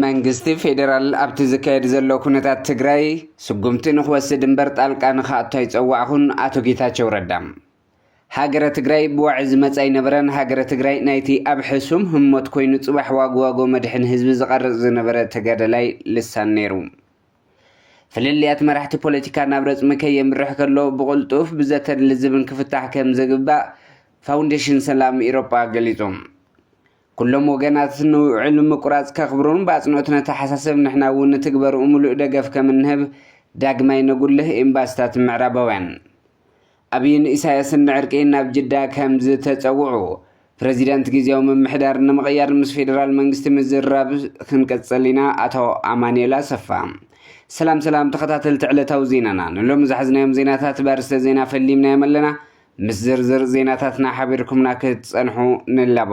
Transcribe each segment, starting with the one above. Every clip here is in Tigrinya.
መንግስቲ ፌዴራል ኣብቲ ዝካየድ ዘሎ ኩነታት ትግራይ ስጉምቲ ንክወስድ እምበር ጣልቃ ንክኣቱ ኣይፀዋዕኹን ኣቶ ጌታቸው ረዳ ሃገረ ትግራይ ብዋዒ ዝመፅ ኣይነበረን ሃገረ ትግራይ ናይቲ ኣብ ሕሱም ህሞት ኮይኑ ፅባሕ ዋጎ ዋጎ መድሕን ህዝቢ ዝቐርፅ ዝነበረ ተጋዳላይ ልሳን ነይሩ ፍልልያት መራሕቲ ፖለቲካ ናብ ረጽሚ ከየምርሕ ከሎ ብቕልጡፍ ብዘተን ልዝብን ክፍታሕ ከም ዝግባእ ፋውንዴሽን ሰላም ኢሮጳ ገሊጹ። ኩሎም ወገናት ንውዕል ምቁራጽ ከኽብሩን ብኣጽንኦት ነተሓሳሰብ ንሕና እውን ንትግበርኡ ምሉእ ደገፍ ከም እንህብ ዳግማይ ነጉልህ ኤምባሲታት ምዕራባውያን ኣብይን ኢሳያስን ንዕርቂ ናብ ጅዳ ከም ዝተጸውዑ፣ ፕረዚደንት ግዝያዊ ምምሕዳር ንምቕያር ምስ ፌደራል መንግስቲ ምዝርራብ ክንቅጽል ኢና፣ ኣቶ ኣማኑኤል ኣሰፋ። ሰላም ሰላም ተኸታተልቲ ዕለታዊ ዜናና፣ ንሎሚ ዝሓዝናዮም ዜናታት ብኣርእስተ ዜና ፈሊምናዮም ኣለና፣ ምስ ዝርዝር ዜናታትና ሓቢርኩምና ክትጸንሑ ንላቦ።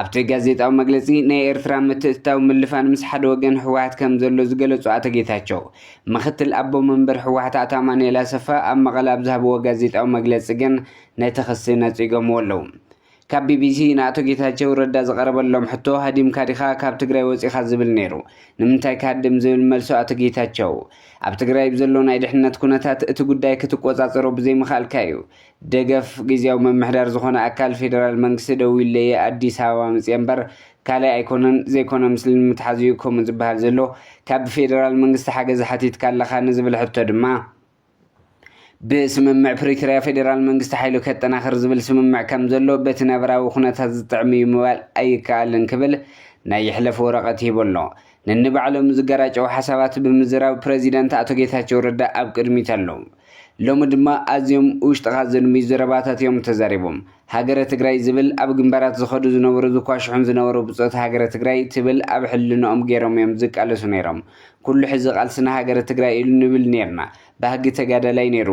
ኣብቲ ጋዜጣዊ መግለፂ ናይ ኤርትራ ምትእትታው ምልፋን ምስ ሓደ ወገን ህወሓት ከም ዘሎ ዝገለፁ ኣቶ ጌታቸው ምክትል ኣቦ መንበር ህወሓት ኣቶ ኣማኑኤል ኣሰፋ ኣብ መቐለ ኣብ ዝሃብዎ ጋዜጣዊ መግለፂ ግን ነቲ ክሲ ነፂጎምዎ ኣለዉ። ካብ ቢቢሲ ንኣቶ ጌታቸው ረዳ ዝቐረበሎም ሕቶ ሃዲምካ ዲኻ ካብ ትግራይ ወፂኻ ዝብል ነይሩ ንምንታይ ክሃድም ዝብል መልሶ ኣቶ ጌታቸው ኣብ ትግራይ ብዘሎ ናይ ድሕነት ኩነታት እቲ ጉዳይ ክትቆፃፀሮ ብዘይምኽኣልካ እዩ ደገፍ ግዝያዊ ምምሕዳር ዝኾነ ኣካል ፌደራል መንግስቲ ደዊለየ ኣዲስ ኣበባ መፅየ እምበር ካልእ ኣይኮነን ዘይኮነ ምስሊ ንምትሓዝ እዩ ከምኡ ዝበሃል ዘሎ ካብ ብፌደራል መንግስቲ ሓገዝ ሓቲትካ ኣለኻ ንዝብል ሕቶ ድማ ብስምምዕ ፕሪቶርያ ፌደራል መንግስቲ ሓይሉ ከጠናኽር ዝብል ስምምዕ ከም ዘሎ በቲ ነባራዊ ኩነታት ዝጥዕም እዩ ምባል ኣይከኣልን ክብል ናይ ይሕለፍ ወረቐት ሂቡ ኣሎ ነንባዕሎም ዝገራጨው ሓሳባት ብምዝራብ ፕረዚደንት ኣቶ ጌታቸው ረዳ ኣብ ቅድሚት ኣለዉ ሎሚ ድማ ኣዝዮም ውሽጥኻ ዘድምዩ ዘረባታት እዮም ተዛሪቦም። ሃገረ ትግራይ ዝብል ኣብ ግንባራት ዝኸዱ ዝነበሩ ዝኳሽሑን ዝነበሩ ብፆት ሃገረ ትግራይ ትብል ኣብ ሕልንኦም ገይሮም እዮም ዝቃለሱ ነይሮም። ኩሉ ሕዚ ቃልስና ሃገረ ትግራይ እዩ ንብል ነይርና። ባህጊ ተጋዳላይ ነይሩ።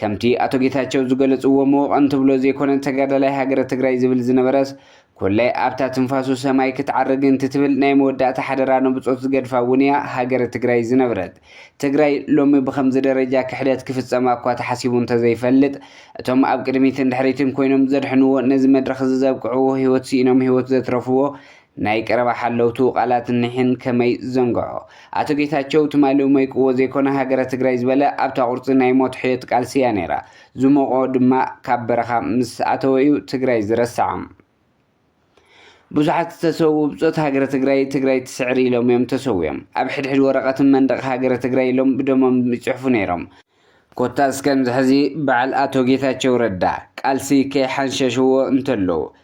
ከምቲ ኣቶ ጌታቸው ዝገለፅዎ መወቐን ትብሎ ዘይኮነ ተጋዳላይ ሃገረ ትግራይ ዝብል ዝነበረስ ኮላይ ኣብታ ትንፋሱ ሰማይ ክትዓርግ እንትትብል ናይ መወዳእታ ሓደራ ንብጾት ዝገድፋ እውን እያ ሃገረ ትግራይ ዝነብረት። ትግራይ ሎሚ ብኸምዚ ደረጃ ክሕደት ክፍጸማ እኳ ተሓሲቡ እንተዘይፈልጥ እቶም ኣብ ቅድሚትን ድሕሪትን ኮይኖም ዘድሕንዎ ነዚ መድረኽ እዚ ዘብቅዕዎ ህይወት ስኢኖም ህይወት ዘትረፍዎ ናይ ቀረባ ሓለውቱ ቃላት እኒሕን ከመይ ዝዘንግዖ ኣቶ ጌታቸው ትማሊ ሞይቅዎ ዘይኮነ ሃገረ ትግራይ ዝበለ ኣብታ ቁርጺ ናይ ሞት ሕዮት ቃልሲ እያ ነይራ ዝሞቖ ድማ ካብ በረኻ ምስ ኣተወ እዩ ትግራይ ዝረስዓ። ብዙሓት ዝተሰውኡ ብፆት ሃገረ ትግራይ ትግራይ ትስዕር ኢሎም እዮም ተሰዊኦም። ኣብ ሕድሕድ ወረቐትን መንደቕ ሃገረ ትግራይ ኢሎም ብደሞም ይፅሕፉ ነይሮም። ኮታስ ከምዚ ሕዚ በዓል ኣቶ ጌታቸው ረዳ ቃልሲ ከይሓንሸሽዎ እንተለዉ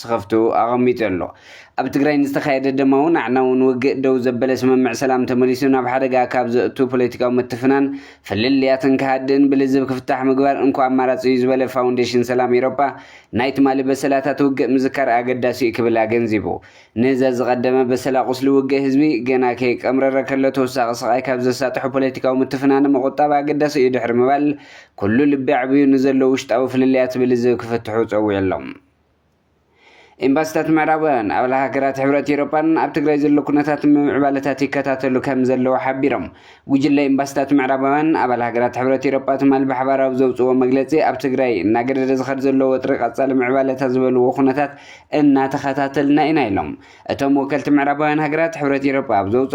ስኸፍቱ ኣቐሚጡ ኣሎ። ኣብ ትግራይ ንዝተኻየደ ደማውን ኣዕናውን ውግእ ደው ዘበለ ስምምዕ ሰላም ተመሊሱ ናብ ሓደጋ ካብ ዘእቱ ፖለቲካዊ ምትፍናን ፍልልያትን ክሃድእን ብልዝብ ክፍታሕ ምግባር እንኮ ኣማራጺ እዩ ዝበለ ፋውንዴሽን ሰላም ኤሮፓ ናይ ትማሊ በሰላታት ውግእ ምዝካር ኣገዳሲ እዩ ክብል ኣገንዚቡ። ንዘዝቐደመ በሰላ ቁስሊ ውግእ ህዝቢ ገና ከይቀምረረ ከሎ ተወሳኺ ስቓይ ካብ ዘሳጥሑ ፖለቲካዊ ምትፍናን ምቑጣብ ኣገዳሲ እዩ ድሕሪ ምባል ኩሉ ልቢ ኣዕብዩ ንዘሎ ውሽጣዊ ፍልልያት ብልዝብ ክፍትሑ ጸዊዑ ኣሎ። ኤምባሲታት ምዕራባውያን ኣባል ሃገራት ሕብረት ኤውሮጳን ኣብ ትግራይ ዘሎ ኩነታት ምምዕባለታት ይከታተሉ ከም ዘለዉ ሓቢሮም። ጉጅለ ኤምባሲታት ምዕራባውያን ኣባል ሃገራት ሕብረት ኤውሮጳ ትማል ብሓባራዊ ዘውፅዎ መግለፂ ኣብ ትግራይ እናገደደ ዝኸድ ዘሎ ወጥሪ ቀፃሊ ምዕባለታት ዝበልዎ ኩነታት እናተኸታተልና ኢና ኢሎም። እቶም ወከልቲ ምዕራባውያን ሃገራት ሕብረት ኤውሮጳ ኣብ ዘውፅኦ